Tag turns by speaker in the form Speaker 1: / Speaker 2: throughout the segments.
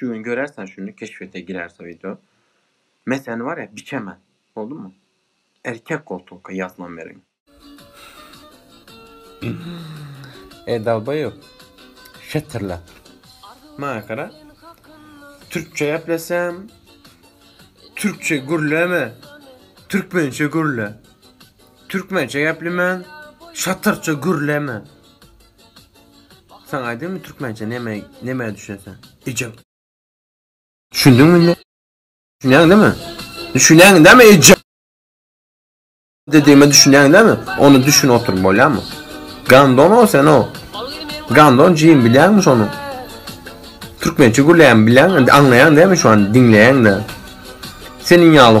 Speaker 1: Şu gün görer sen şuny keşfete girerse video. Men seni bar ya biçemen. Boldumy? Erkek koltuňka ýaslan meniň. Eý dalbaýob. Şetirlap. Maňa gara. Türkçe gepleseň Türkçe gürleme. Türkmençe gürle. Türkmençe geplemen şatyrça gürleme. Sen aýdymy türkmençe neme neme düşüneseň. Ejem. Düşündüňmi indi? Düşünýäň näme? Düşünýäň näme ejem? Dedime düşünýäň näme? Onu düşün otur bolýamy? Gandon o sen o. Gandon jim bilýäňmi şonu? Türkmençe gürleýän bilýäň, aňlaýaň näme şu an diňleýäň näme? Seniň ýaly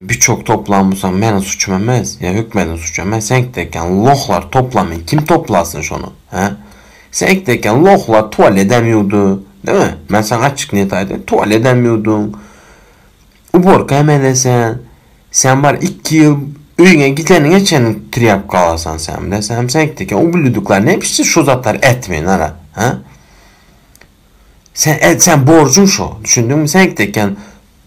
Speaker 1: Biçok toplan busaň meniň suçum emes ya hükmediň suçu emes seňki dekan lohlar toplamin kim toplasyn şony he seňki dekan lohlar tualedem yuwdy deme men saňa açyk niyet aýdaýyn tualedem yuwdyň uborka hem edesan sen bar iki ýyl öýüňe gideniňe çen trýapka alasan sen bile sen hem seňki dekan ubluduklar ne biçse şu zatlar etmeyin ara he sen et sen borjuň şo düşündiňmi seňki dekan